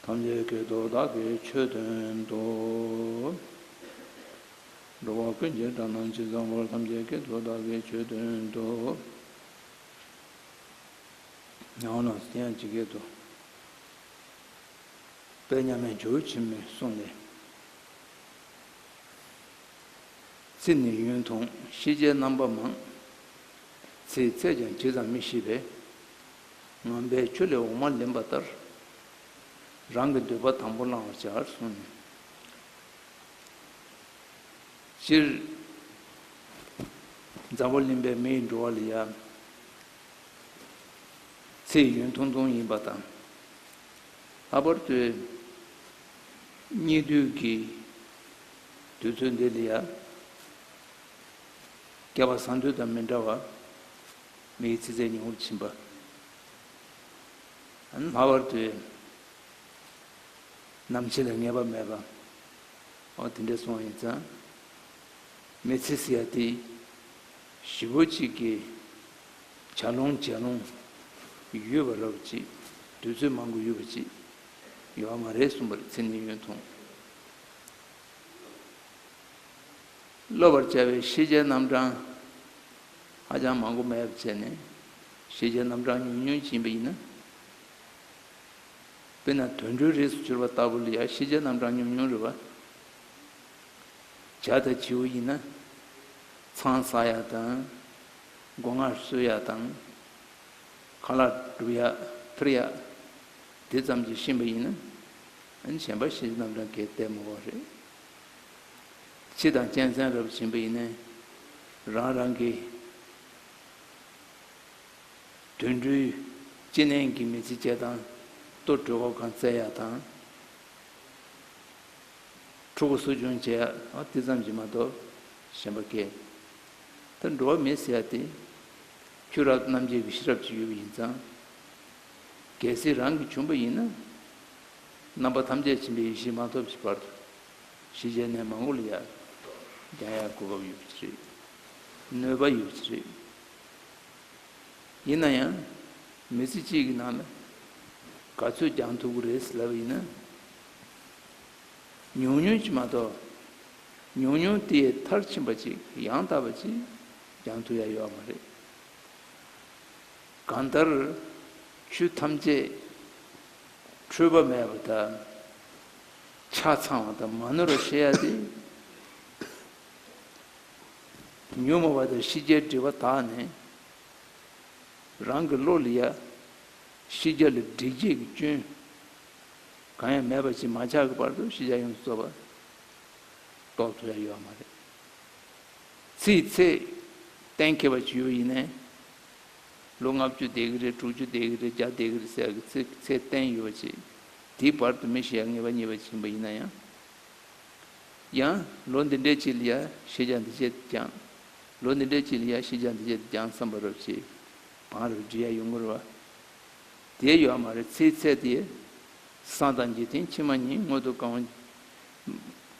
ཐམས་ཅད་ཀྱི་དོ་བདག་གི་ཆོས་སྟོན་ཏོ། འགྲོ་བ་ཀུན་གྱི་དགྲ་རྣམས་ཇི་བཟང་པོར་ཐམས་ཅད་ཀྱི་དོ་བདག་གི་ཆོས་སྟོན་ཏོ། ཡང་ན་དེ་ཡང་ཇི་སྐད་དུ། དཔལ་མཉམ་མེད་འཇུར་ཆེན་མོས་གསུངས་ནས། ཚེ་ནི་ཡུན་ཐུང་ཤེས་བྱའི་རྣམ་པ་མང། ཚེའི་ཚད་ཀྱང་ཇི་ཙམ་མི་ཤེས་པས། ངན་པའི་ཆོས་ལས་འོག་མ་ལེན་པ་ལྟར་རང་གི་འདོད་པ་དང་པོ་བླང་བར་བྱ། སྤྱིར་མཛའ་བོ་གླིང་པའི་མི་ཡི་འགྲོ་བ་ལ་ཡ། ཚེའི་ཡུན་ཐུང་ཐུང་ཡིན་པ་དང། ལྷག་པར་དུ་གཉིད་དུས་ཀྱི་དུས་ཚོད་འདི་ལ་ཡ། སྐལ་བ་བཟང་དུས་དང་མི་འདྲ་བར། མེའི་ཚི་ཚད་ཉུང་རུ་ཕྱིན་པ། སྨྲ་བར་དོའི་ནམ་ཕྱེད་ལ་ངེས་པ་མེད་པ། འོ་དེ་འདྲས་སོང་ཡིན་ཙང། མེ་ཚི་སི་ཡ་ཏི་བཞི་བོ་གཅིག་གི་བྱ་ལོང་བྱེ་ལོང་ཡོད་པ་རབ་གཅིག་དུས་ཚོད་མང་གི་ཡོད་པ་གཅིག་ཡོད་པ་མ་རེད་གསུངས་པར་ཚིག་ནི་ཡུན་ཐུང། སློབ་པར་བྱ་བའི་ཤེས་བྱའི་རྣམ་གྲངས། ཧ་ཅང་མང་པོ་མེད་པའི་ཚེ་ནི་ཤེས་བྱའི་རྣམ་གྲངས་ཉུང་ཉུང་ཕྱིན་པ་ཡིན་ན། དཔེར་ན་དུད་འགྲོའི་རིགས་སུ་གྱུར་པ་ལྟ་བུ་ལ་ཡང་ཤེས་བྱའི་རྣམ་གྲངས་ཉུང་ཉུང་རེ་བ། བྱ་དང་བྱིའུ་ཡིན་ན་ཚང་ཟ་ཡག་དང་སྒོ་ང་གསོད་ཡག་དང་ཁ་ལག་སྒྲུབ་ཡག་ཐུར་ཡག་དེ་ཙམ་གྱིས་ཕྱིན་པ་ཡིན་ན། གཞན་པ་ཤེས་བྱའི་རྣམ་གྲངས་གལ་ཏེ་མང་བ་རེད། ཕྱི་དང་གཅན་གཟན་རབ་བྱིན་པ་ཡིས་ནི། རང་རང་གི། དུད་འགྲོའི། ཅི་ནན་གྱི་མི་ཚེ་བཅད་དང། ལྟོ་གྲོད་འོག་ཁང་བརྩེགས་ཡག་དང། ཕྲུ་གུ་གསོ་སྦྱོང་བྱེད་ཡག་འདི་ཙམ་གྱིས་མ་གཏོགས་གཞན་པ་སྐད། ད་འགྲོ་བ་མི་ཟེར་ཡག་སྟེ། ཁྱོད་རང་རྣམ་རྒྱལ་གྱི་ཤེས་རབ་ཅིག་ཡོད་པ་ཡིན་ཙང། གལ་སྲིད་རང་གི་བྱུང་བ་ཡིན་ན། རྣམ་པ་ཐམས་ཅད་ཕྱིན་པའི་ཡེ་ཤེས་མ་ཐོབ་ཀྱི་བར་དུ་ཞི་རྒྱས་ནས་མ་འགོར་ལ་ཡར་རྒྱང་ཡང་གོ་བབས་ཡོད་ཀྱི་རེད། གནོད་པ་ཡོད་ཀྱི་རེད། ཡིན་ན་ཡང་མི་ཚེ་གཅིག་གི་ནང་ལ་ག་ཚོད་རྒྱང་ཐུབ་ཀྱི་རེད་ལབ་ཡིན་ན། ཉུང་ཉུང་ཅིག་མ་གཏོགས་ཉུང་ཉུང་དེའི་མཐར་ཕྱིན་པ་ཅིག་ཡང་དག་པ་ཅིག་རྒྱང་ཐུབ་ཡ་ཡོད་མ་རེད། གང་ལྟར་ཆོས་ཐམས་ཅད། འཁྲུལ་པ་མེད་པ་དང། ཆ་ཚང་བ་དང་མ་ནོར་བ་ཤེས་ཡ་སྟེ། ཉོན་མོངས་པ་དང་ཤེས་བྱའི་སྒྲིབ་པ་དག་ནི། རང་གི་བློ་ལ་ཡ། ཤེས་བྱ་ལ་སྒྲིབ་བྱེད་ཀྱི་སྐྱོན། གང་ཡང་མེད་པ་ཞེས་མ་ཆགས་ཀྱི་བར་དུ་ཤེས་བྱ་ཡོངས་སུ་རྫོགས་པ། རྟོགས་ཐུབ་ཡ་ཡོད་མ་རེད། ཚིག་ཚེགས་གཏན་འཁེལ་བ་ཅི་ཡོད་ཡིན་ནའི་ལོ་ལྔ་བཅུ་བསྡད་ཀྱི་རེད་དྲུག་ཅུ་བསྡད་ཀྱི་རེད་བརྒྱ་བསྡད་ཀྱི་རེད་ཟེར་གྱི་ཚེ་ཚད་བསྟན་ཡོད་ཅེས་དེའི་བར་དུ་མི་ཤེས་ཡ་ངེས་པ་ཉེས་པ་བྱིན་པ་ཡིན་ན་ཡང། ཡང་ལོ་འདི་འདྲའི་ཆེད་ལ་ཡ་ཤེས་བྱ་འདི་བྱེད་དུ་བསྐྱང། ལོ་འདི་འདྲའི་ཆེད་ལ་ཡ་ཤེས་བྱ་འདི་བྱེད་དུ་བསྐྱང་བསམ་པ་རབ་བྱེད་བང་རབ་འབྲི་ཡ་ཡོད་མགོ་རུ་བ་དེ་ཡོད་མ་རེད་ཚེའི་ཚད་དེ་སང་དང་འཇིག་རྟེན་ཕྱི་མ་གཉིས་སྔོན་དུ་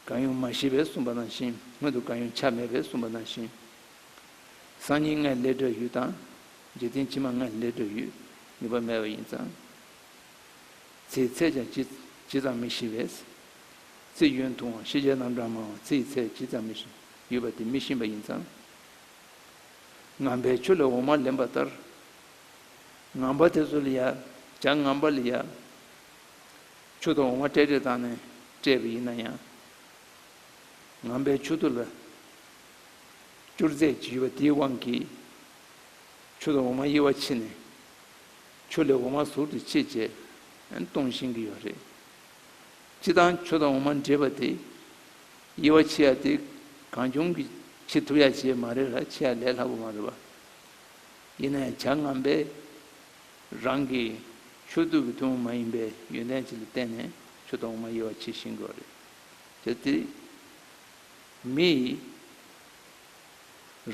གང་ཡོང་མ་ཤེས་པས་གསུངས་པ་ནང་བཞིན་སྔོན་དུ་གང་ཡོང་ཆ་མེད་པས་གསུངས་པ་ནང་བཞིན་སང་ཉིན་ངའི་ལས་སྒྲོལ་ཡུལ་དང། རྗེས་བསྟན་ཕྱི་མ་ངའི་ལས་སྒྲོལ་ཡུལ་ངེས་པར་མེད་པ་ཡིན་ཙང། ཚེའི་ཚད་ཀྱང་ཇི་ཙམ་མི་ཤེས་པས། ཚེ་གཡོན་དུའང་ཤེས་བྱའི་རྣམ་གྲངས་མང་བ་ཚེའི་ཚད་ཇི་ཙམ་མི་ཤེས་ཡོད་པ་དེ་མི་ཤེས་པ་ཡིན་ཙང། ངང་པའི་ཆུ་ལས་འོ་མ་ལེན་པ་ལྟར། ངང་པ་དེ་ཚོ་ལ་ཡ་བྱ་ངང་པ་ལ་ཡ། ཆུ་དང་འོ་མ་སྤྲད་སྤྲད་བཏང་ནས་སྤྲད་པ་ཡིན་ན་ཡང། ངང་པའི་ཆུ་དུ་ལ་བཅུར་རྫས་ཀྱི་ཡུ་བ་དེའི་དབང་གིས། ཆུ་དང་འོ་མ་དབྱེ་བ་ཕྱེ་ནས། ཆུ་ལས་འོ་མ་ཟུར་དུ་ཕྱེ་བཅས་གཏོང་བཞིན་གྱི་ཡོད་རེད། སྤྱི་དང་ཆུ་དང་འོ་མ་འདྲེས་པ་དེ། དབྱེ་བ་ཕྱེ་ཡ་དེ་གང་བྱུང་གིས་ཕྱེ་ཐུབ་ཡ་བྱེད་མ་རེད་ལ་ཕྱེ་ཡ་ལས་སླ་པོ་མ་རེད་པ། ཡིན་ན་ཡང་བྱ་རྔམ་པས་རང་གི་ཆུ་བཏུལ་གྱི་ཐུན་མོང་མ་ཡིན་པའི་ཡོན་ཏན་ཅིག་ལ་བརྟེན་ནས་ཆུ་དང་འོ་མ་དབྱེ་བ་ཕྱེ་བཞིན་གྱི་ཡོད་རེད། དེ། མི་ཡིས།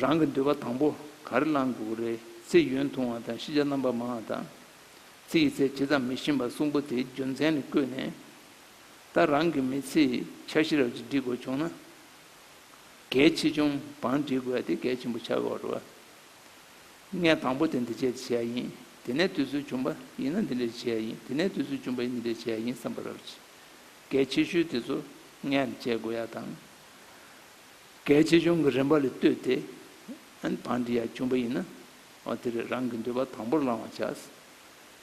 རང་གི་འདོད་པ་དང་པོ་ག་རེ་བླངས་དགོས་རེད་ཚེ་ཡུན་ཐུང་བ་དང་ཤེས་བྱ་རྣམ་པ་མང་བ་དང། ཚེ་ཡི་ཚད་ཇི་ཙམ་མི་ཤེས་པ་གསུམ་པོ་དེའི་རྒྱུ་མཚན་ནི་བཀོད་ནས། ད་རང་གི་མི་ཚེའི་འཆར་གཞི་རབ་ཅིག་འབྲི་དགོས་བྱུང་ན། གལ་ཆེ་ཆུང་བང་འབྲི་དགོས་ཏེ་གལ་ཆེན་པོ་ཆགས་དགོས་རེད། ངས་དང་པོ་དེ་འདི་བྱས་ཏེ་བྱས་ཡིན་དེ་ནས་དུས་ཚོད་བྱུང་པ་ཡིན་ན་འདི་འདྲས་བྱས་ཡིན་དེ་ནས་དུས་ཚོད་བྱུང་པ་ཡིན་འདི་འདྲས་བྱས་ཡིན་བསམ་པ་རབ་ཅིག་གལ་ཆེ་ཤོས་དེ་ཚོ་ངས་བྱེད་དགོས་ཡ་དང། གལ་ཆེ་ཆུང་གི་རིམ་པ་ལས་བལྟོས་ཏེ། བང་འདི་ཡར་བྱུང་བ་ཡིན་ན། འོ་དེ་རེད་རང་གི་འདོད་པ་དང་པོར་བླང་བར་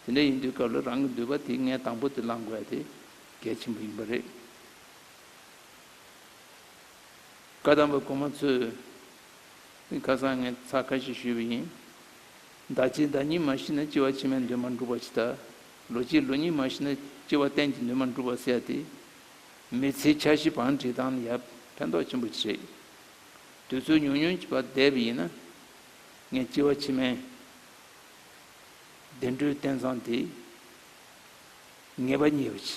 བྱ། དེ་འདྲ་ཡིན་དུས་སྐབས་ལ་རང་གི་འདོད་པ་དེ་ངས་དང་པོ་དེ་བླང་དགོས་ཡ་དེ་གལ་ཆེན་པོ་ཡིན་པ་རེད། བཀའ་གདམས་པ་གོང་མ་ཚོས་ཁ་སང་ངས་ཚ་ཁ་ཤས་ཞུས་པ་ཡིན། བདག་གཅིག་བདག་གཉིས་མ་ཤི་ན་ལྕི་བ་ཕྱི་མའི་འདོད་མ་འགྲུབ་པ་ཇི་ལྟར་ལོ་གཅིག་ལོ་གཉིས་མ་ཤི་ན་སྐྱེ་བ་གཏན་གྱི་ནུས་མ་འགྲུབ་པར་ཟད་དེ། མི་ཚེའི་འཆར་གཞི་བང་སྒྲིག་དང་ཡང་ཕན་ཐོགས་ཆེན་པོ་བྱེད། དུས་ཚོད་ཉུང་ཉུང་གི་བར་བསྡད་པ་ཡིན་ན། ངས་སྐྱེ་བ་ཕྱི་མའི་བདེ་འགྲོའི་རྟེན་བཟང་དེ་ངེས་པ་ཉེས་པ་བྱས།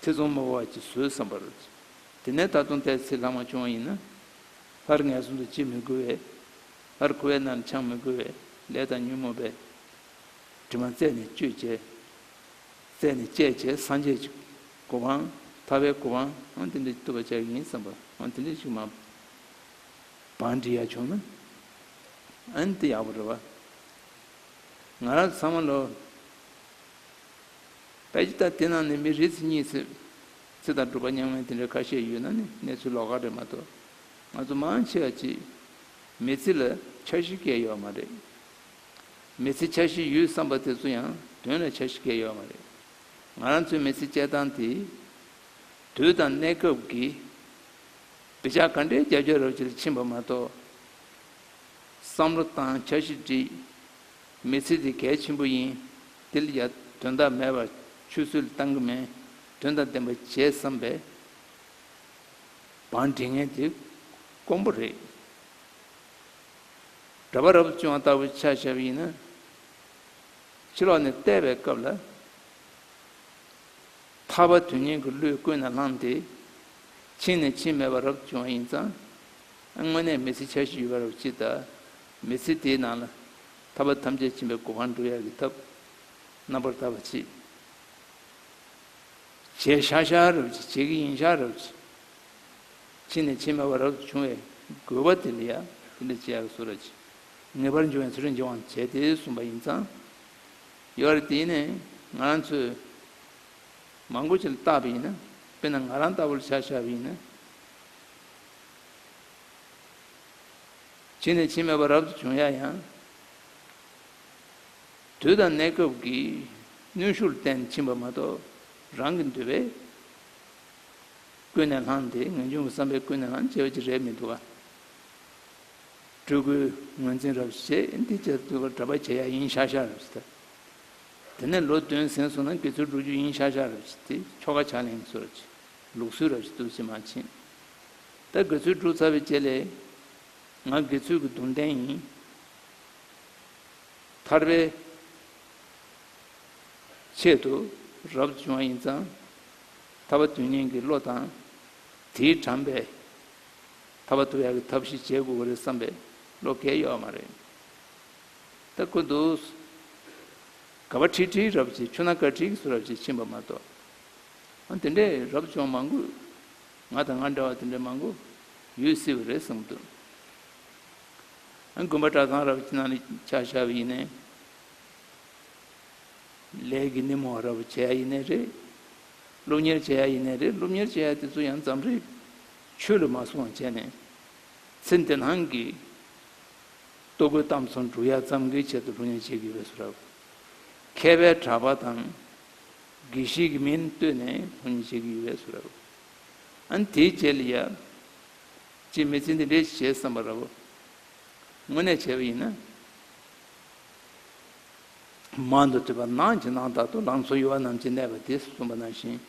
ཚེ་བཙོང་མོ་བ་ཅིག་བཟོས་བསམ་པར། དེ་ནས་ད་དུང་ལྟས་ཚེ་ལྷག་མ་བྱུང་བ་ཡིན་ན། སླར་ངལ་གསོ་འདི་བྱེད་མི་དགོས་བས། སླར་ཁུ་བའི་ནར་འཆང་མི་དགོས་བས་ལས་དང་ཉོན་མོངས་པའི་དྲི་མ་རྩད་ནས་གཅོད་བྱེད། རྩད་ནས་བཅད་བྱེད་སངས་རྒྱས་ཀྱི་གོ་འཕང། ཐར་པའི་གོ་འཕང་འང་དེ་འདྲའི་བསྟོད་པ་བྱ་བ་ཡིན་བསམ་པ་འང་དེ་འདྲ་ཞིག་མ། བང་འབྲི་ཡ་བྱུང་ན་འང་དེ་ཡག་པོ་རེད་བ། ང་རང་ཚང་མ་ལོ། བས་ཀྱི་ད་དེ་ནང་ནས་མི་རེ་ཚེ་གཉིས་ཚེ། ཚེ་དང་སྒྲུབ་པ་རྙིང་མའི་དེ་འདྲ་ཁ་ཤས་ཡོད་ན་ནི་གནས་ཚུལ་ལོག་ཁ་རེད་མ་གཏོགས་ང་ཚོ་མང་ཆེ་བ་གཅིག་མེད་ཚིག་ལ་འཆར་གཞི་བཀལ་ཡོད་མ་རེད། མི་ཚེ་འཆར་གཞི་ཡོད་བསམ་པ་དེ་ཚོ་ཡང་དོན་ལ་འཆར་གཞི་འགལ་ཡོད་མ་རེད། ང་རང་ཚོའི་མི་ཚེ་སྐྱེལ་སྟངས་དེ། དུས་དང་གནས་སྐབས་ཀྱི་བདེ་འཇགས་ག་འདྲའི་རྒྱ་ཁྱབ་རབ་བྱེད་ལ་ཕྱིན་པ་མ་གཏོགས། བསམ་བློ་བཏང་འཆར་གཞི་བསྒྲིགས། མི་ཚེ་དེ་གལ་ཆེན་པོ་ཡིན། དེ་ལ་ཡར་དོན་དག་མེད་པར་ཆུད་ཟོས་བཏང་གི་མེད། དོན་དང་ལྡན་པ་བྱས་བསམ་པའི་བང་སྒྲིག་ངན་དེ་དཀོན་པོ་རེད། འདྲ་པར་རབ་བྱུང་བ་ལྟ་བུ་ཆ་བྱ་བ་ཡིན་ན། ཕྱི་ལོགས་ནས་བལྟས་པའི་སྐབས་ལ། ཐར་པ་དོན་གཉེར་གྱི་གླུས་ཀུན་ནས་བསླངས་ཏེ། ཕྱིན་ནས་ཕྱིན་མེད་པར་རབ་བྱུང་བ་ཡིན་ཙང། དངོས་གནས་མི་ཚེ་ཆ་བཞི་ཡོད་པ་རེད་བ་ཅི་ལྟ། མི་ཚེ་དེའི་ནང་ལ། ཐར་པ་ཐམས་ཅད་ཕྱིན་པའི་གོ་འཕང་འགྲུབ་ཡ་གི་ཐབས། རྣམ་པར་དག་པ་ཅི། བྱས་ཤག་ཤག་རེད་བ་ཅི་བྱེད་ཀྱི་ཡིན་ཤག་རེད་བ་ཅི། ཕྱི་ནས་ཕྱི་མ་བར་རབ་ཏུ་བྱུང་བའི་རྒོལ་བ་དེ་ལ་ཡང་དེ་འདྲ་བྱས་པར་གསོལ་ར་བྱས། ངེས་པར་འབྱུང་བའི་ཚུལ་འབྱུང་བར་བྱས་ཏེ་གསུངས་པ་ཡིན་ཙང། ཡོད་རེད་དེ་ནས་ང་རང་ཚོས་མང་པོ་ཞིག་ལ་བརྟགས་པས་ཡིན། དཔེར་ན་ང་རང་ལྟ་བུ་ལ་བྱ་བཞག་པས་ཡིན། ཕྱི་ནས་ཕྱི་མ་བར་རབ་ཏུ་བྱུང་ཡང་ཡང། དུས་དང་གནས་སྐབས་ཀྱི་ནུས་ཤུགས་ལ་བརྟེན་ནས་ཕྱིན་པ་མ་གཏོགས་རང་གི་འདོད་པས། ཀུན་ནས་བསླངས་ཏེ་ངེས་འབྱུང་གི་བསམ་པས་ཀུན་ནས་བསླངས་བྱེད་ཀྱི་རེ་མི་འདུག་ག། སྤྲུལ་སྐུའི་ངོས་འཛིན་རབ་བྱེད་འདི་བཅས་བསྡུ་བར་གྲྭ་པ་བྱེད་ཡ་ཡིན་ཤག་ཤག་རབ་བྱེད་ཐབས། དེ་ནས་ལོ་བདུན་ཟིན་སོང་ན་དགེ་ཚུལ་བསྒྲུབ་རྒྱུ་ཡིན་ཤག་ཤག་རབ་བྱེད་དེ་ཁྱོ་ག་ཕྱག་ལེན་སོགས་ཀྱི་ལུགས་སྲོལ་རབ་བྱེད་བསྡུ་བྱེད་མ་བྱེད། ད་དགེ་ཚུལ་བསྒྲུབ་ཚར་བའི་རྗེས་ལས། ང་དགེ་ཚུལ་གྱི་གདུང་རྟེན་ཡིན། ཐར་པའི་ཆེད་དུ་རབ་བྱུང་བ་ཡིན་ཙང། ཐར་པ་དུས་གཉན་གྱི་བློ་དང། དེའི་དྲངས་པའི། ཐར་པ་དུ་ཡ་གི་ཐབས་ཤེས་བྱེད་དགོས་པ་རེད་བསམ་པའི་བློ་འགལ་ཡོད་མ་རེད། ད་ཁུ་འདུག། ག་བ་ཁྲི་ཁྲིའི་རབས་ཀྱི་ཆུ་ནང་ཀ་ཁྲིའི་སུ་རབས་ཀྱི་ཕྱིན་པ་མ་གཏོགས། དེ་འདྲའི་རབས་ཅུང་མང་པོ། ང་དང་ང་འདྲ་བ་དེ་འདྲའི་མང་པོ། ཡོད་སྲིད་པ་རེད་གསུངས་འདུག། དགོན་པ་གྲྭ་ཚང་རབས་ཀྱི་ནང་ལས་ཕྱག་བཞག་པ་ཡིན་ནའི། ལས་ཀྱི་ནི་མོ་རབ་བྱས་ཡིན་ནའི་རེད། སློབ་གཉེར་བྱས་ཡིན་ནའི་རེད་སློབ་གཉེར་བྱས་དེ་ཚོ་ཡང་འཛམ་རིག་ཆོས་ལུགས་མ་སྲུང་བ་བྱས་ནས་ཚེ་འདི་སྣང་གི་ལྟོ་གོས་གཏམ་ཚོ་འབྲུ་ཡག་ཙམ་གི་ཆེད་དུ་སློབ་གཉེར་བྱེད་ཀྱི་ཡོད་ས་རབ། མཁས་པའི་གྲྭ་པ་དང་དགེ་བཤེས་ཀྱི་མིང་བཏོད་ནས་སློབ་གཉེར་བྱེད་ཀྱི་ཡོད་ས་རབ། ཨན་དེའི་རྗེས་ལ་ཡར་རྗེས་མི་ཚེ་འདི་འདྲའི་བྱེད་བསམ་པ་རབ། དངོས་གནས་བྱས་པ་ཡིན་ན། མང་དུ་བྲིས་པ་ནགས་ཀྱི་ནང་དག་ཏུ་ལང་ཚོ་ཡུ་བ་རྣམས་ཀྱིས་གནས་པ་དེས་གསུངས་པ་ནང་བཞིན་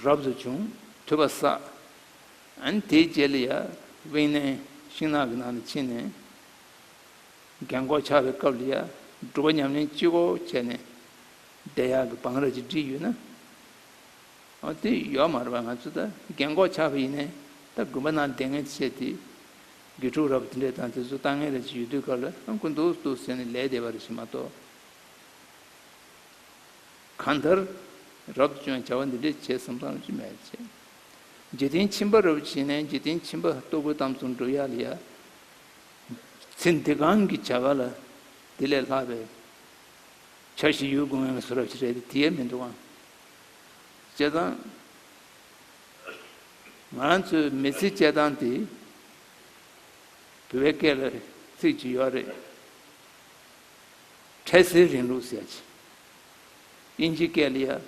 རབ་ཏུ་བྱུང། དུད་པ་བསགས། དེའི་རྗེས་ལི་ཡཱ་དབེན་གནས་ཤིང་ནགས་ཀྱི་ནང་དུ་ཕྱིན་ནས། རྒན་འཁོགས་ཆགས་པའི་སྐབས་ལི་ཡཱ་སྒྲུབ་པ་ཉམས་ལེན་སྤྱི་བོར་བྱས་ནས། བདེ་ཡག་གི་བང་ར་ཅིག་བྲིས་ཡོད་ན། དེ་ཡོད་མ་རེད་པ་ང་ཚོས་ད་རྒན་འཁོགས་ཆགས་པ་ཡིན་ནས་ད་དགོན་པ་ནང་བསྡད་ངེས་ཅེས་དེ་དགེ་ཕྲུག་ར་བ་དེ་འདྲས་དང་དེ་ཚོ་ལྟ་ངན་རེ་ཅིག་ཡོད་དུས་ག་ལ་དགོས་འདུག་འདུག་ཟེར་ནས་ལས་བསྡད་པ་རེ་ཞིག་མ་གཏོགས། གང་ལྟར། རབ་ཏུ་ཅང་བྱ་བ་འདི་འདྲས་བྱེད་བསམ་སྟངས་ཅི་མེད་ཅེས། འཇིག་རྟེན་ཁྱིམ་པ་ར་བ་བྱས་ནས་འཇིག་རྟེན་ཁྱིམ་པ་ལྟོ་གོས་གཏམ་ཚོ་འབྲུ་ཡག་ལ་ཡག། ཚེ་འདི་གང་གི་བྱ་ག་ལ་དེ་ལས་ལྷག་པའི་བྱ་ཞིག་ཡོད་དགོས་ངེས་ལ་བཟོ་ར་བྱེད་རས་དེ་ཡལ་མི་འདུག་ཨང། བྱས་ཙང། ང་རང་ཚོའི་མི་ཚེ་སྐྱེལ་སྟངས་དེ་བོད་སྐད་ལ་ཚིག་གཅིག་ཡོད་རེད། འཕྲལ་སེལ་རིང་ལུགས་ཟེར་གྱི། དབྱིན་ཇི་སྐད་ལ་ཡ།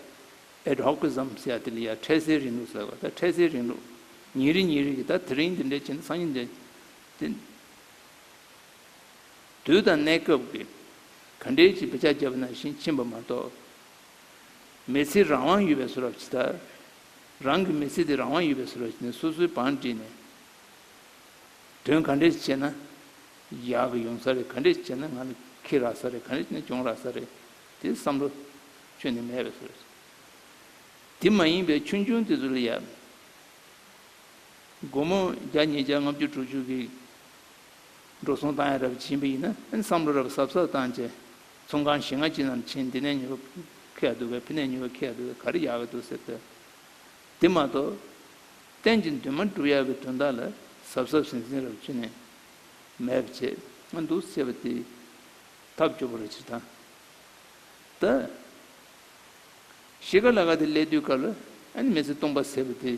Adhocism། ཟེར་དེ་ལ་ཡ་འཕྲལ་སེལ་རིང་ལུགས་ཟེར་བ་ད་འཕྲལ་སེལ་རིང་ལུགས་ཉིན་རེ་ཉིན་རེ་གི་ད་དེ་རིང་འདི་འདྲའི་བྱས་ན་སང་ཉིན་འདི་འདྲའི། དུས་དང་གནས་སྐབས་ཀྱི་ག་འདྲའི་ཅིག་བྱ་བྱས་པ་ནང་བཞིན་ཕྱིན་པ་མ་གཏོགས་མི་ཚེའི་རང་དབང་ཡོད་པའི་སུ་རབ་ཅི་ལྟར། རང་གི་མི་ཚེ་དེ་རང་དབང་ཡོད་པའི་སུ་རབ་ཅི་ནས་སོ་སོའི་བང་བསྒྲིགས་ནས། དོན་ག་འདྲས་བྱས་ན་ཡག་གི་ཡོང་ས་རེད་ག་འདྲས་བྱས་ན་ང་ལ་ཁེ་རག་ས་རེད་ག་འདྲས་བྱས་ན་གྱོང་རག་ས་རེད་དེ་བསམ་བློ་ཁྱོན་ནས་མེད་པའི་སུ་རབ་ཅི། དེ་མ་ཡིན་པའི་ཆུང་ཆུང་དེ་ཚོ་ལ་ཡབ། སྒོར་མོ་བརྒྱ་ཉིས་བརྒྱ་ལྔ་བཅུ་དྲུག་བཅུ་གིས་འགྲོ་སོང་བཏང་ཡ་རབ་ཅི་ཡིན་པ་ཡིན་ན་བསམ་བློ་རབ་ཟབ་ཟབ་བཏང་རྗེས། ཚོང་ཁང་ཞིག་ང་ཅི་ནམ་ཕྱིན་འདི་ནས་ཉོ་གི་ཡག་འདུག་ག་ཕི་ནས་ཉོ་གི་ཡག་འདུག་ག་རེ་ཡག་གི་འདུག་ཟེར་ཏེ། དེ་མ་གཏོགས། གཏན་གྱི་འདུན་མ་སྒྲུབ་ཡག་གི་དོན་དག་ལ་གཟབ་གཟབ་ཟིང་ཟིང་རབ་བྱེད་ནས། མེད་པ་བྱེད་ང་འདུག་ཟེར་བ་དེའི་ཐབས་སྐྱོ་པོ་རེད་ཕྱིར་འཐང། ད། གཞིས་ཀ་ལ་ག་དེ་སླེབས་དུས་སྐབས་ལ་ཨ་ནི་མི་ཚེ་སྟོང་པ་ཟེར་བ་དེ།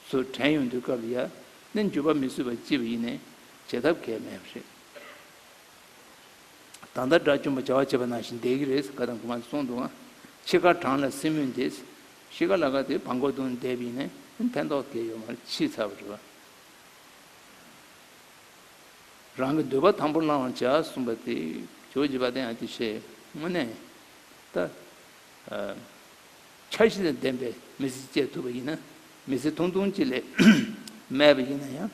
ཚུར་དྲན་ཡོང་དུས་སྐབས་ལ་ཡ་ནི་འགྱོད་པ་མི་བཟོད་པ་ལྕི་བ་ཡིན་ནས་བྱེད་ཐབས་གལ་མེད་པ་རེད། ད་ལྟ་དགྲ་བཅོམ་པ་བྱ་བ་བྱེད་པ་ནང་བཞིན་བསྡད་ཀྱི་རེད་ཟེར་ག་དང་གོ་མ་གསུངས་འདུག་ཨང། ཕྱི་དཀར་བྲང་ལ་སྲིན་མོས་འདེད། ཤི་ཀ་ལ་ཀ་དེ་བང་མགོ་དུང་འདེད་པས་ནི་ཕན་ཐོགས་དེ་ཡོད་མ་རེད་ཕྱིས་ཚར་བ་རེད་བ། རང་གི་འདོད་པ་དང་པོ་བླང་བར་བྱ་གསུངས་པ་དེ་ཇོ་བྱེད་པ་དེ་ཡང་དེ་ཤེས་ངོ་ནས་ད། འཆར་གཞི་དང་ལྡན་པའི་མི་ཚེ་སྐྱེལ་ཐུབ་པ་ཡིན་ན་མི་ཚེ་ཐུང་ཐུང་ཅིག་ལས། དམན་པ་ཡིན་ན་ཡང་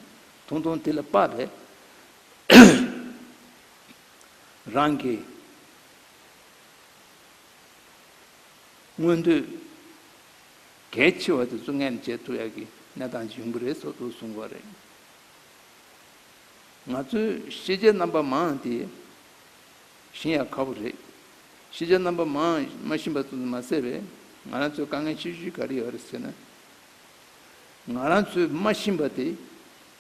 ཐུང་ཐུང་དེ་ལ་དཔག་པའི་རང་གི་མངོན་འདོད་གལ་ཆེ་བ་དེ་ཚོ་ངས་ནི་བྱེད་ཐུབ་ཡག་གི་གནས་སྟངས་ཞིག་ཡོང་གི་རེད་སོགས་དུ་གསུངས་པ་རེད། ང་ཚོའི་ཤེས་བྱའི་རྣམ་པ་མང་དེ་ཞིན་ཡག་ཁ་བོ་རེད། ཤེས་བྱའི་རྣམ་པ་མང་མ་ཞིན་པ་ཙམ་མ་ཟད་པའི་ང་རང་ཚོའི་དཀའ་ངལ་ཆེ་ཤོས་ག་རེ་ཡོད་རེད་ཟེར་ན། ང་རང་ཚོའི་མ་ཞིན་པ་དེ་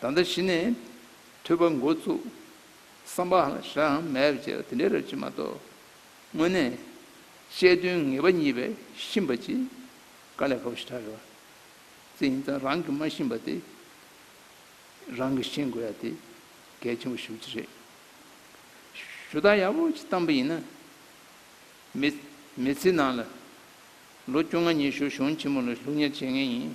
ད་ལྟ་གཞི་ནས་ཐོས་པ་འགོ་བཙུགས། བསམ་པའང་གཞའང་མེད་པའི་ཕྱིར་དེ་འདྲའི་རབ་བྱེད་མ་གཏོགས། དངོས་གནས། དཔྱད་དོན་ངེས་པ་གཉིས་པའི་ཤིང་པ་གཅིག། དཀའ་ལས་ཁ་བོ་ཞེ་དྲག་རེད་བ། ཙི་ཡིན་ཙང་རང་གིས་མ་ཤིང་པ་དེ། རང་གིས་ཤིང་དགོས་ཡ་དེ་གལ་ཆེན་པོ་ཞུ་རྒྱུ་རེད། ཞུ་སྟངས་ཡག་པོ་ཞིག་བཏང་པ་ཡིན་ན། མི། མི་ཚེའི་ནང་ལ། ལོ་བཅོ་ལྔ་ཉི་ཤུ་གཞོན་ཆེན་མོ་ལ་ལུགས་གཉེར་བྱེད་ངེས་ཡིན།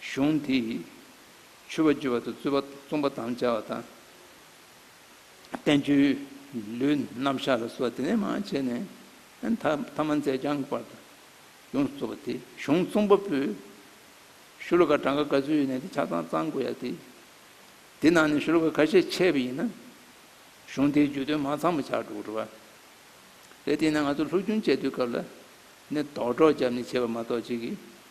གཞུང་དེས་ཆོས་པ་རྒྱུད་པ་དང་རྩོད་པ་རྩོམ་པ་དམ་བཅའ་བ་དང། བསྟན་བཅོས་ལུས་རྣམ་གཞག་ལ་སོགས་དེ་ལས་མ་བྱས་ནས་ཐ་མ་མཛད་བྱང་གི་བར་དང་ཡོངས་སུ་རྫོགས་པ་དེ་གཞུང་རྩོམ་པ་པོས་ཤུ་ལོ་ཀ་གྲངས་ཀ་ག་ཚོད་ཡོད་ནས་དེ་ཆ་ཚང་གཙང་དགོས་ཡ་དེ། དེ་ནང་ནས་ཤུ་ལོ་ཀ་ཁ་ཤས་ཆད་པ་ཡིན་ན་གཞུང་དེའི་བརྗོད་དོན་མ་ཚང་བ་ཆགས་འགྲོ་གི་རེད་བ། རེད་དེས་ན་ང་ཚོ་ལྷུག་རྒྱུན་དཔྱད་བསྡུར་སྐབས་ལ་ནི་དོགས་འདྲོག་བརྒྱབ་ནས་བྱས་པ་མ་གཏོགས་གཅིག་གིས་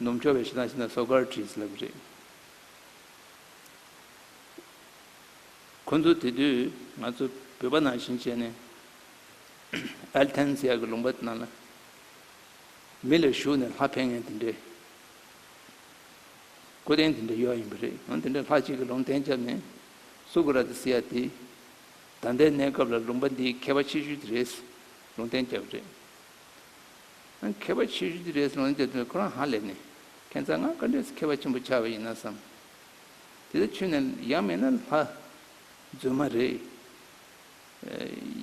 ནུབ་འཁྱོག་པའི་ཤི་ཐང་ཤི་ན་སོ་ཀར་བྲིས་ལབ་རེད། ཁོ་ཚོ་དེ་དུས་ང་ཚོ་བོད་པ་ནང་བཞིན་བྱས་ནས་ཨལ་ཐན་སི་ཡ་གི་ལུང་པ་ནང་ལ་མི་ལ་ཞུགས་ནས་ལྷ་འཕེན་མཁན་དེ་འདྲའི་སྐུ་རྟེན་དེ་འདྲ་ཡོད་ཡིན་པ་རེད་ཡང་དེ་འདྲའི་ལྷ་གཅིག་གི་ལུང་བསྟན་བརྒྱབ་ནས་སུ་ཀུ་ར་ཏི་སི་ཡ་དེ་ད་ལྟའི་གནས་སྐབས་ལ་ལུང་པ་འདིའི་མཁས་པ་ཆེ་ཤོས་དེ་རེད་ལུང་བསྟན་བརྒྱབ་རེད། མཁས་པ་ཆེ་ཤོས་དེ་རེད་གསུངས་ན་འདི་ལྟར་ཁོ་རང་ཧ་ལས་ནས་ཁྱེད་ཚང་ང་བཀའ་འདྲི་སུ་མཁས་པ་ཆེན་པོ་ཆགས་པ་ཡིན་ན་བསམ། དེ་ལྟར་ཆོས་ནས་ཡག་མེད་ན་ལྷ། རྫུན་མ་རེད།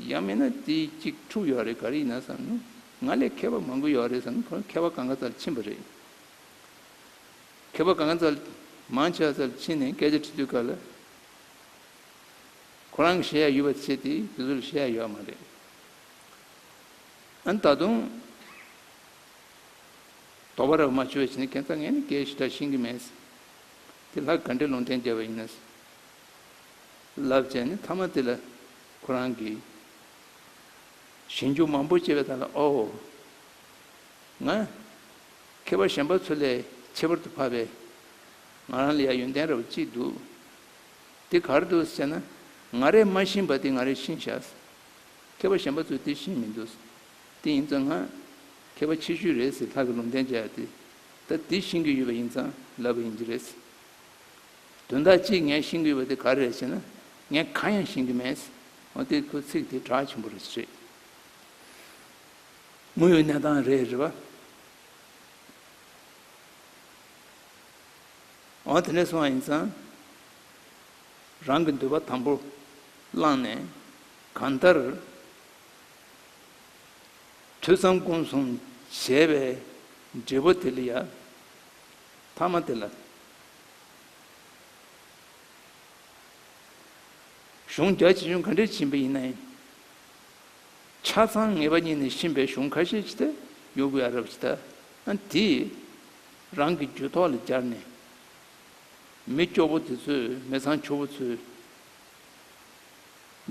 ཡག་མེད་ན་དེ་གཅིག་འཁྲུག་ཡོད་རེད་ག་རེ་ཡིན་ན་བསམ་ནུ། ང་ལས་མཁས་པ་མང་པོ་ཡོད་རེད་བསམ་ཁོ་རང་མཁས་པ་གང་ག་ཚར་ཕྱིན་པ་རེད། མཁས་པ་གང་ག་ཚར་མང་ཆེ་བ་ཚར་ཕྱིན་ནས་སྐད་ཆ་འཁྲི་དུས་ག་ལ། ཁོ་རང་གི་བཤད་ཡ་ཡོད་པ་དེ་བཤད་དེ་དེ་ཚོ་ལ་བཤད་ཡ་ཡོད་མ་རེད། ད་དུང། དོགས་པ་རབ་མ་བྱོས་བྱས་ནས་གན་ཚ་ངས་ནི་སྐད་ཞི་དྲག་ཤེས་ཀྱི་མེད། དེ་ལྷ་ག་འདྲའི་ལུང་བསྟན་རྒྱབ་པ་ཡིན། ལབ་བྱས་ནས་མཐའ་མ་དེ་ལ་ཁོ་རང་གིས། ཞིང་ཆུང་མང་པོ་སྐྱེས་པའི་ཐ་ལ་ཨོ། ང། མཁས་པ་གཞན་པ་ཚོ་ལས་ཁྱད་པར་དུ་འཕགས་པའི། ང་རང་ལ་ཡང་ཡོན་ཏན་རབ་གཅིག་འདུག། དེ་གར་འདུག་ཟེར་ན། ང་རས་མ་ཤིང་པ་དེ་ང་རས་ཤིང་བཞག། མཁས་པ་གཞན་པ་ཚོས་དེ་བཞིན་མི་འདུག། དེ་ཡིན་ཙང་ང། མཁས་པ་ཆེ་ཤོས་རེད་ཟེར་ཐག་གི་ལུང་བསྟན་བྱ་ཡག་དེ། ད་དེ་བཞིན་གྱི་ཡོད་པ་ཡིན་ཙང་ལབ་པ་ཡིན་གྱི་རེད། དོན་དག་གཅིག་ངས་ཤེས་གི་ཡོད་པ་དེ་ག་རེ་རེད་ཟེར་ན། ངས་གང་ཡང་ཤེས་གི་མེད། འོན་ཏེ་ཁོའི་ཚིག་དེ་གྲགས་ཆེན་པོ་རེད་ཟེར། དངོས་ཡོད་གནས་སྟངས་རེད་རེད་པ། འོ་དེ་ནས་སོང་བ་ཡིན་ཙང། རང་གི་འདོད་པ་དང་པོར་བླངས་ནས་གང་ལྟར་ཐོས་བསམ་སྒོམ་གསུམ་བྱས་པའི་འབྲས་བུ་དེ་ལ་ཡང་ཐ་མ་དེ་ལ་གཞུང་རྒྱ་ཆེ་ཆུང་ག་འདྲའི་བྱིན་པ་ཡིན་ན་ཡང་ཆ་ཚང་ངེས་པ་ཉིད་ནས་བྱིན་པའི་གཞུང་ཁ་ཤས་ཇི་ལྟ་ཡོད་དགོས་ཨ་རབ་ཇི་ལྟ་ན་དེས་རང་གི་རྒྱུད་ཐོག་ལ་སྦྱར་ནས། མི་སྐྱོ་བོ་དེ་ཚོས་མི་ཚང་ཁྱོ་བོ་ཚོའི་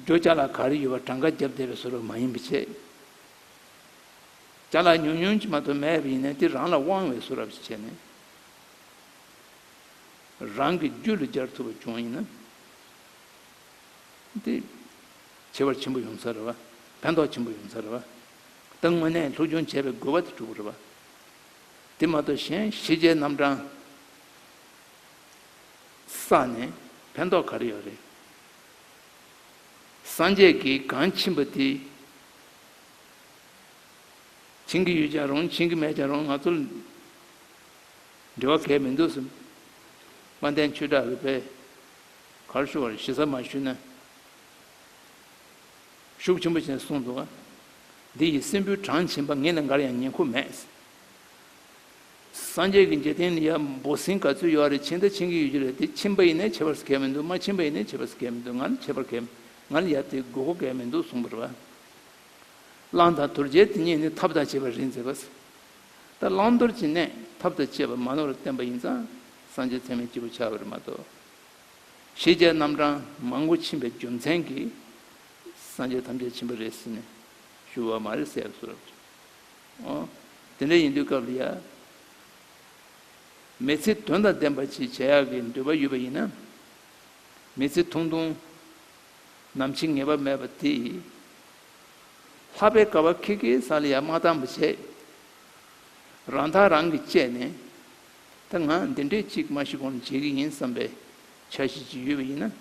རྒྱོ་རྐྱ་ལ་ག་རེ་ཡོད་པ་གྲངས་ཀ་རྒྱབ་བསྡད་པའི་ཟོལ་བ་མ་ཡིན་པ་བྱས། རྒྱ་ལ་ཉུང་ཉུང་གཅིག་མ་གཏོགས་མེད་པ་ཡིན་ནས་དེ་རང་ལ་དབང་བའི་ཟོལ་ར་བྱས་ནས་རང་གི་རྒྱུད་ལ་སྦྱར་ཐུབ་པ་བྱུང་ཡིན་ན་དེ་བྱེད་པར་ཆེན་པོ་ཡོང་ས་རེད་བ། ཕན་ཐོགས་ཆེན་པོ་ཡོང་ས་རེད་བ། ད་དངོས་གནས་ལྷུག་སྦྱོང་བྱས་པའི་དགོས་པ་དེ་གྲུབ་པ་རེད་བ། དེ་མ་གཏོགས་གཞན་ཤེས་བྱའི་རྣམ་གྲངས། ས་ནི་ཕན་ཐོགས་ག་རེ་ཡོད་རེད། སངས་རྒྱས་ཀྱི་གང་ཕྱིན་པ་དེ་བྱིན་གྱི་ཡོད་ཀྱང་རུང་བྱིན་གྱི་མེད་ཀྱང་རུང་ང་ཚོར་འབྲེལ་བ་གལ་མི་འདུག་སེམས་དཔའ་བསྟན་ཆོས་གྲགས་རིག་པའི་གར་ཞུ་བར་ཞི་ས་མ་ཞུས་ན་ཤུགས་ཆེན་པོ་བྱེད་གསུངས་འདུག་འདི་ཡི་སྲིན་བུའི་གྲངས་བྱིན་པ་ངེད་ལ་འགར་ཡང་ཉན་ཁུག་མེད། སངས་རྒྱས་ཀྱི་འཇིག་རྟེན་ནི་ཡག་འབོ་སྲིན་ག་ཚོད་ཡོད་ཨ་རེ་ཕྱིན་ད་ཕྱིན་གྱི་ཡོད་ཀྱི་རེད་དེ་ཕྱིན་པ་ཡིན་ནའི་བྱེད་པར་སྐལ་མི་འདུག་མ་ཕྱིན་པ་ཡིན་ནའི་བྱེད་པར་སྐལ་མི་འདུག་ང་ལ་བྱེད་པར་སྐལ་ང་ལ་ཡབ་དེ་དགོས་མཁོ་སྐལ་མི་འདུག་གསུངས་པར་བ་གླང་དང་དོར་རྒྱལ་དེ་གཉིས་ནི་ཐབས་དང་བཅས་པར་རིགས་མཛད་པ། ད་བླང་དོར་གྱི་གནས་ཐབས་དང་བཅས་པ་མ་ནོར་བར་བསྟན་པ་ཡིན་ཙང་སངས་རྒྱས་ཚད་མེད་སྐྱེས་བུ་བྱ་བར་མ་གཏོགས། ཞེས་རྒྱལ་རྣམ་གྲངས་མང་པོ་ཕྱིན་པའི་རྒྱུ་མཚན་གྱིས་སངས་རྒྱས་ཐམས་ཅད་ཕྱིན་པ་རེད་ཟེར་ནས་ཞུ་བ་མ་རེད་ཟེར་སོ། དེ་འདྲ་ཡིན་དུས་སྐབས་འདི་ཡང་མི་ཚེ་དོན་དང་ལྡན་པ་ཞིག་བྱེད་ཡག་གི་འདོད་པ་ཡོད་པ་ཡིན་ན། མི་ཚེ་ཐུང་ཐུང་ནམ་འཆི་ངེས་པ་མེད་པ་དེ་ལྷག་པའི་དཀའ་བ་ཁེལ་ཁེལ་ས་ལ་ཡང་མ་བཏང་བ་བྱས། རང་ཐག་རང་གིས་བཅད་ནས་ད་ང་འདི་འདྲས་ཅིག་མ་ཤི་གོང་བྱེད་ཀྱི་ཡིན་བསམ་པའི་འཆར་གཞི་ཅིག་ཡོད་པ་ཡིན་ན།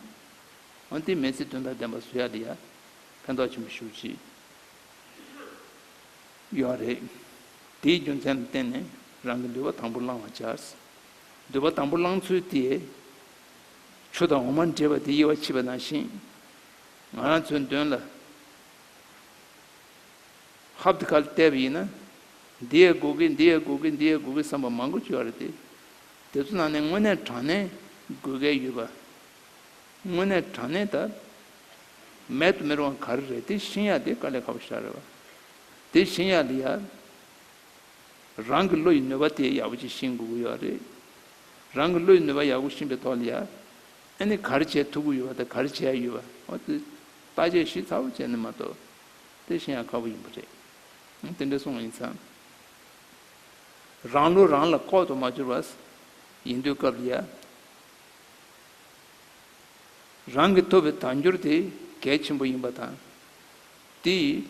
འོན་ཏེ་མི་ཚེ་དོན་དང་ལྡན་པ་བཟོ་ཡག་འདི་ཡང་ཕན་ཐོགས་ཆེན་པོ་ཞུ་ཅི། ཡོད་རེད། དེའི་རྒྱུ་མཚན་ལ་བརྟེན་ནས་རང་གི་འདུལ་བ་དང་པོ་བླང་བར་བྱ། འདུལ་བ་དང་པོ་བླང་ཚུལ་དེས། ཆུ་དང་འོ་མ་འདྲེས་པ་དེ་དབྱེ་བ་ཕྱེད་པ་ནང་བཞིན། ང་རང་ཚོའི་མདུན་ལ་ཧབ་ཏི་ཁ་ལ་བལྟས་པ་ཡིན་ན། འདི་ཡའི་སྒུག་གི་འདི་ཡའི་སྒུག་གི་འདི་ཡའི་སྒུག་གི་བསམ་པ་མང་པོ་བྱུང་བ་རེད་དེ། དེ་ཚོ་ནང་ནས་དངོས་གནས་དྲང་གནས་དགོས་གལ་ཡོད་པ། དངོས་གནས་དྲང་གནས་ད་མེད་དུ་མི་རུང་བ་ག་རེ་རེད་དེ་བཞིན་ཡག་དེ་དཀའ་ལས་ཁ་བོ་ཤ་རེད་བ། དེ་བཞིན་ཡག་དེ་ཡག་རང་གི་བློ་ཡི་ནུས་པ་དེ་ཡག་པོ་ཅིག་ཤེས་དགོས་ཀྱི་ཡོད་རེད། རང་གི་བློ་ཡི་ནུས་པ་ཡག་པོ་ཤེས་པའི་ཐོག་ལ་ཡག་ནི་ག་རེ་བྱས་ཐུབ་ཀྱི་ཡོད་བ་དང་ག་རེ་བྱས་ཡ་ཡོད་བ་འོ་དེ་བརྟག་དཔྱད་ཞིག་ཚ་བོ་བྱས་ནས་མ་གཏོགས་དེ་བཞིན་ཡག་ཁ་བོ་ཡིན་པ་རེད། དེ་འདྲ་སོང་བ་ཡིན་ཙང། རང་བློ་རང་ལ་ཁོག་ཏུ་མ་འབྱོར་བ་ཡིན་དུས་སྐབས་ལ་ཡ། རང་གིས་ཐོབ་པའི་དལ་འབྱོར་དེ་གལ་ཆེན་པོ་ཡིན་པ་དང། དེ་ཡིས་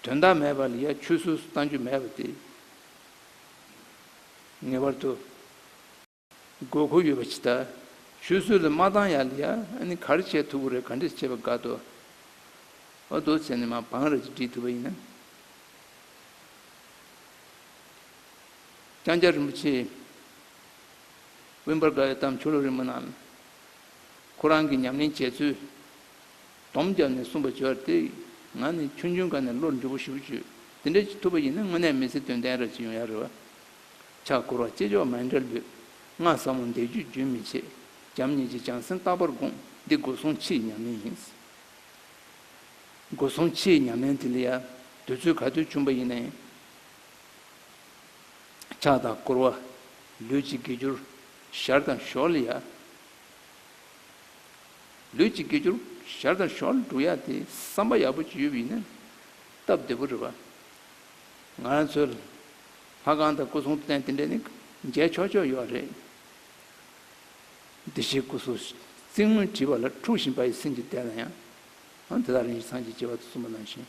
དོན་དག་མེད་པ་ལ་ཡ་ཆུ་སོ་སོ་བཏང་རྒྱུ་མེད་པ་དེ། ངེས་པར་དུ་དགོས་མཁོ་ཡོད་པ་ཇི་ལྟར་ཆུ་སོ་ལས་མ་བཏང་ཡ་ལ་ཡ་ནི་གར་བྱས་ཐུབ་ཀྱི་རེད་ག་འདྲས་བྱས་པ་དགའ་དོ། ཨོ་དོ་ཚེ་ནི་མ་བང་ར་ཅིག་བྲིས་ཐུབ་པ་ཡིན་ན། ལྕང་སྐྱ་རིན་པོ་ཆེའི། དབེན་པར་དགའ་བའི་གཏམ་ཆོ་ལོ་རི་མོ་རྣམས། ཁོ་རང་གིས་ཉམས་ལེན་བྱས་ཚུལ། དོམ་བརྒྱབ་ནས་གསུངས་པ་བརྗོད་དེ། ང་ནི་ཆུང་ཆུང་ག་ནས་བློར་འཇུག་པོ་ཞུ་བོ་བྱོས། དེ་འདྲ་ཞིག་ཐུབ་པ་ཡིན་ན་དངོས་གནས་མི་ཚེ་དོན་ལྡན་རབ་བྱེད་ཡོང་ཡག་རེད་བ། ཕྱག་འཁོར་བ་སྐྱེས་མཆོག་མ་འདྲ་ལུས། ང་ཟབ་མོ་འདས་རྒྱུད་རྒྱུན་མི་ཆད། བྱམས་སྙིང་རྗེ་བྱང་སེམས་རྟག་པར་དགོངས། འདི་སྒོ་སྲུང་ཕྱིའི་ཉམས་ལེན་ཡིན། སྒོ་སྲུང་ཕྱིའི་ཉམས་ལེན་དེ་ལ་ཡང། དུས་ཚོད་ག་དུས་བྱུང་བ་ཡིན་ན་ཡང། ཕྱག་དང་བསྐོར་བ་ལུས་གཅིག་དགེ་གྱུར་ཞར་དང་ཞོར་ལ་ཡལ། ལུས་གཅིག་དགེ་གྱུར་ཞར་དང་ཞོར་ལ་འགྲོ་ཡལ་ཏེ་བསམ་པ་ཡག་པོ་བྱེད་ཡུལ་ཡིན་ན་སྟབས་བདེ་པོ་རེད་པ། ང་རང་ཚོའི་ལྷ་ཁང་དང་སྐུ་གསུང་ཐུགས་རྟེན་དེ་འདྲ་ནི་མཇལ་ཆོག་ཆོག་ཡོད་རེད། བདེ་གཤེགས་སྐུ་གསུང་ཐུགས་སྔོན་བྲིས་པ་ལ་འཁྲུགས་བཞིན་པ་ཡི་སེམས་ཀྱི་གཏེར་ན་ཡང་དེ་དག་རིན་ཆེན་ཚང་གཅིག་བྱེ་བ་དུ་གསུམ་པ་ནང་བཞིན།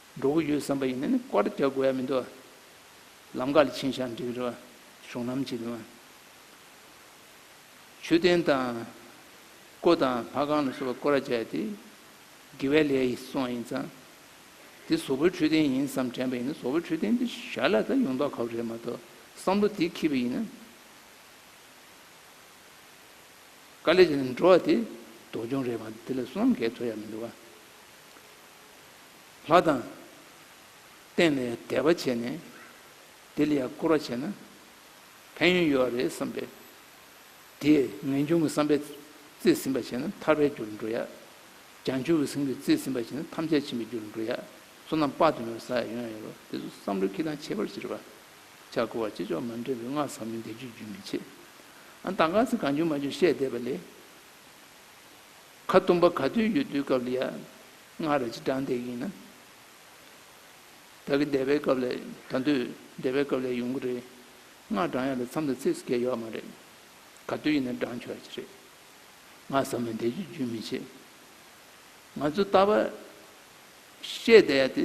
འགྲོ་གི་ཡོད་བསམ་པ་ཡིན་ན་ནི་བཀའ་རྒྱ་དགོས་ཡ་མི་འདུག་ལམ་ཀ་ལ་ཕྱིན་ཞག་འགྲིག་རོགས་གཞུང་ལམ་གྱི་དོན། མཆོད་རྟེན་དང། སྐོར་དང་ལྷ་ཁང་ལ་སོགས་པ་བསྐོར་ར་བྱས་ཏེ་དགེ་བའི་ལས་ཡིན་སོང་ཡིན་ཙང། དེ་བཟོ་བོའི་འཕྲོད་བསྟེན་ཡིན་བསམ་དྲན་པ་ཡིན་ན་བཟོ་བོའི་འཕྲོད་བསྟེན་དེ་ཞར་ལ་ད་ཡོང་ཐོག་ཁབ་རེད་མ་གཏོགས་བསམ་བློ་དེ་ཁྱི་པ་ཡིན་ན། དཀའ་ལས་བྱས་ནས་འགྲོ་བ་དེ་དོགས་སྦྱོང་རེད་མ་གཏོགས་དེ་ལ་སུ་ལའང་འགལ་ཐོ་ཡ་མི་འདུག་ག། ལྷ་དང། བསྟན་ནས་དད་པ་བྱས་ནས། དེ་ལ་ཡང་བསྐུར་བ་བྱས་ན། ཕན་ཡོན་ཡོད་རེད་བསམ་པས། དེས་ངེས་འབྱུང་གི་བསམ་པས་རྩིས་ཟིན་པར་བྱས་ན་ཐར་པའི་རྒྱུར་འགྲོ་ཡ། བྱང་ཆུབ་ཀྱི་སེམས་ཀྱིས་རྩིས་ཟིན་པར་བྱས་ན་ཐམས་ཅད་མཆིས་པའི་རྒྱུར་འགྲོ་ཡ། བསོད་ནམས་དཔག་ཏུ་མེད་པ་ས་ཡ་ཡོན་ཡང་ཡོད་པ་དེ་ཚོ་བསམ་བློའི་ཁེ་དང་ཁྱད་པར་ཅི་རེད་བ། ཕྱག་བསྐུར་བ་ཅི་ལྕོགས་མ་འདྲེས་པའི་སྔགས་ཟབ་མོའི་བཟླས་བརྗོད་རྒྱུན་མི་ཆད། ཨ་མདའ་གང་ཚེ་གང་བྱུང་མ་བྱུང་བཤད་བསྡད་པ་ལས། ཁ་བཏུམ་པ་ག་དུས་ཡོད་དུས་སྐབས་ལ་ཡ། སྔར་རེ་ཅི་དྲང་བདེན་ཡིན་ན། ད་གི་འདས་པའི་སྐབས་ལས་ད་དུས་འདས་པའི་སྐབས་ལས་ཡོང་གི་རེད། སྔར་དྲང་ཡག་ལ་མཚམས་ལ་ཚིགས་སུ་བསྐྱལ་ཡོག་མ་རེད། ག་དུས་ཡིན་ན་དྲང་ཆོག་གི་རེད། ང་ཟ་མ་འདས་རྒྱུ་རྒྱུན་མི་ཆད། ང་ཚོ་ལྟ་བ། བཤད་བསྡད་ཡག་དེ་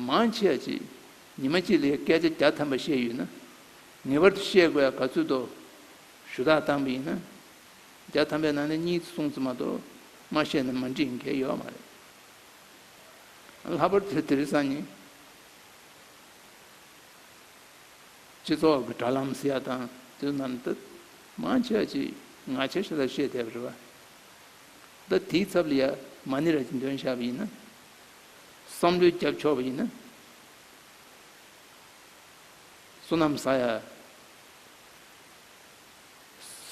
མང་ཆེ་ཡག་ཅིག་ཉི་མ་གཅིག་ལ་ཡ་སྐད་ཆ་བརྒྱ་ཐམ་པ་བཤད་ཡོད་ན། ངེས་པར་དུ་བཤད་དགོས་ཡག་ག་ཚོད་དོ། ཞུ་དག་བཏང་པ་ཡིན་ན། བརྒྱ་ཐམ་པའི་ནང་ནས་གཉིས་གསུངས་ཙི་མ་གཏོགས་མ་བཤད་ན་མ་འགྲིག་མཁན་ཡོད་མ་རེད། ལྷག་པར་དུ་དེ་རི་ས་ནི་སྤྱི་ཚོགས་ཀྱི་དྲ་ལམ་སི་ཡ་དང་དུས་ནམ་ད་མང་ཆེ་བ་ཅིག་ང་ཆེ་ཤོས་ལ་བཤད་བསྡད་པ་རེད་བ། ད་དེའི་ཚབ་ལ་ཡ་མ་ནི་ར་གྱི་འདོན་བཞག་པ་ཡིན་ན། བསམ་བློའི་རྒྱབ་ཕྱོགས་པ་ཡིན་ན། བསོད་ནམས་ས་ཡ་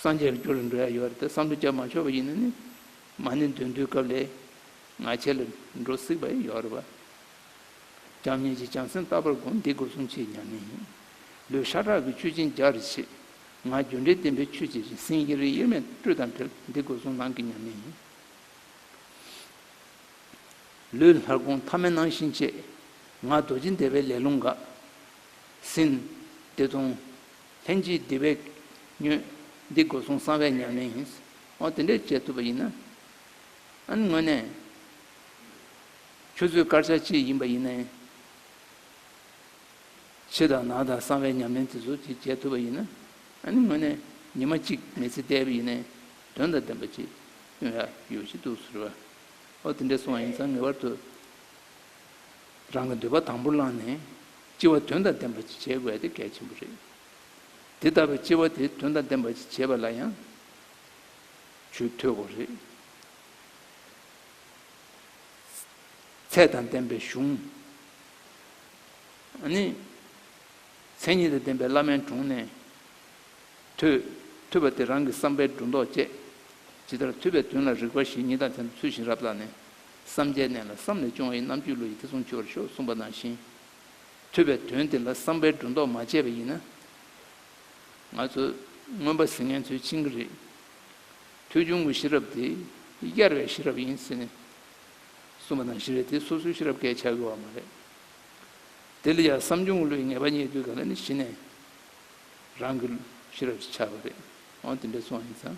སངས་རྒྱས་ལ་འགྱུར་བའི་འགྲོ་ཡ་ཡོད་རེད་དེ་བསམ་བློ་བསྐྱར་མ་ཆོད་པ་ཡིན་ན་ནི་མ་ནི་འདོན་དུས་སྐབས་ལས་ང་ཁྱེད་ལ་འགྲོ་སྲིད་པ་ཡོད་རེད་བ། རྒྱམ་གཉིས་ཀྱི་བྱམས་སེམས་རྟག་པར་དགོངས་འདི་སྒོ་སྲུང་ཆེས་ཉམས་མེད་ཡིན། ལུས་ཤ་ཁྲག་གི་ཆུ་སྦྱིན་རྒྱག་རེ་ཆེ། ང་རྒྱུ་འབྲས་བསྟན་པའི་ཆོས་ཀྱི་རིགས་སེང་གེ་རིགས་དབྱེར་མེད་སྤྲུལ་དང་འཕྲལ་འདི་སྒོ་སྲུང་ལང་གི་ཉམས་མེད་ཡིན། ལུས་ལྷར་དགོངས་ཐ་མལ་སྣང་བཞིན་སྐྱེས། ང་རྡོ་རྗེ་འདས་པའི་ལས་རླུང་འགགས། སིནྡྷི་སྟོང། ལྷན་ཅིག་བདེ་བས་མྱོས། འདི་སྒོ་སྲུང་གསང་བའི་ཉམས་ལེན་ཡིན། འོ་དེ་འདྲས་བྱེད་ཐུབ་པ་ཡིན་ན། དངོས་གནས། ཁྱོད་ཚོའི་སྐར་ཆ་གཅིག་ཡིན་པ་ཡིན་ན། ཕྱི་དང་ནང་དང་གསང་བའི་ཉམས་ལེན་དེ་ཚོ་གཅིག་བྱེད་ཐུབ་པ་ཡིན་ན། དངོས་གནས་ཉི་མ་གཅིག་མེ་ཚེ་བསྡད་པ་ཡིན་ན། དོན་དང་ལྡན་པ་ཅིག་སྟོན་ཡག་ཡོད་ཤི་འདུག་ཟེར། འོ་དེ་འདྲས་སོང་བ་ཡིན་ཙང་ངེས་པར་དུ། རང་གི་འདོད་པ་དང་པོ་བླངས་ནས་སྐྱེ་བ་དོན་དང་ལྡན་པ་བྱེད་དགོས་དེ་གལ་ཆེན་པོ་རེད། དེ་ལྟ་བུའི་སྐྱེ་བ་དེ་དོན་དང་ལྡན་པ་བྱེད་པ་ལ་ཡང་ཆུ་འཐུང་དགོས་རེད། ཚད་དང་ལྡན་པའི་གཞུང། ནི། མཚན་ཉིད་དང་ལྡན་པའི་བླ་མའི་དྲུང་ནས་ཐོས། ཐོས་པ་དེ་རང་གི་བསམ་པའི་སྒྲོ་འདོགས་བཅད། ཇི་ལྟར་ཐོས་པའི་དོན་ལ་རིགས་པ་བཞིན་ཉིད་དང་ཚན་དུ་ཚུལ་བཞིན་རབ་བརྟགས་ནས། བསམ་བྱའི་གནས་ལ་བསམ་ལས་བྱུང་བ་ཡི་རྣམ་གཅོད་ལུས་ཡིད་ཐེ་ཚོམ་སྦྱོར་ཞོག་གསུངས་པ་ནང་བཞིན། ཐོས་པའི་དོན་དེ་ལ་བསམ་པའི་སྒྲོ་འདོགས་མ་བཅད་པ་ཡིན་ན། ང་ཚོས་མངོན་པ་གཟིགས་ངན་ཚུལ་ཕྱིན་གྱི་རེད། ཐོས་བྱུང་གི་ཤེས་རབ་དེ་གཡར་བའི་ཤེས་རབ་ཡིན་ཟེར་ནས་གསུངས་པ་ནང་བཞིན་རེད་དེ་སོ་སོའི་ཤེས་རབ་སྐད་ཆ་གཡོ་བ་མ་རེད། དེ་ལ་ཡང་བསམ་བྱུང་གི་ལུས་ངེས་པ་རྙེད་དུས་ག་ལ་ནི་གཞི་ནས་རང་གི་ཤེས་རབ་ཅིག་ཆགས་པ་རེད། འོན་ཏེ་འདྲེ་ཚོང་ཡིན་ཙང།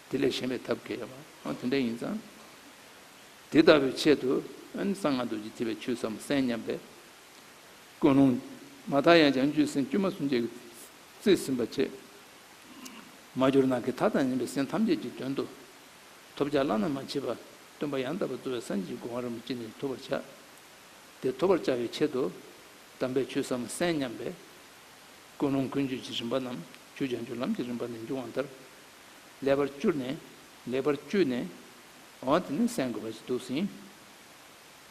དེ་ལས་གཞན་པའི་ཐབས་མཁས་པའང་དེ་འདྲ་ཡིན་ཙང། དེ་ལྟ་བུའི་ཆེད་དུ་གསང་སྔགས་རྡོ་རྗེ་ཐིག་ལེ་ཆུ་སྲམ་གསན་སྙམ་པས། ཀུན་སློང་མ་མཐའ་ཡང་བྱང་ཆུའི་སེམས་དཀྱུས་མ་གསུམ་ཆའི་རྩིས་ཟིན་པ་ཆེས་མ་གྱུར་ན་གི་མཐའ་དང་ཉམས་པའི་སེམས་ཐམས་ཅད་ཀྱི་དོན་དུ། ཐོབ་བྱ་བླ་ན་མ་མཆིས་པ་སྟོན་པ་ཡང་དག་པར་རྩོལ་བའི་སངས་རྒྱས་ཀྱི་དགོངས་བ་རིན་པོ་ཆེ་ནི་ཐོབ་པར་བྱ། དེ་ཐོབ་པར་བྱ་བའི་ཆེད་དུ། དམ་པའི་ཆུ་སྲམ་གསན་སྙམ་པས། ཀུན་སློང་ཀུན་སྤྱོད་ཀྱི་རིམ་པ་རྣམས་ཆུ་བྱང་ཆུབ་ལམ་གྱི་རིམ་པ་ནས་འབྱུང་བ་ལྟར་ལེགས་པར་བསྐྱུར་ནས། ལེགས་པར་བསྐྱུར་ནས། འོ་དེ་ནི་གསན་དགོས་པ་ཞིག་འདུག་ཟིན།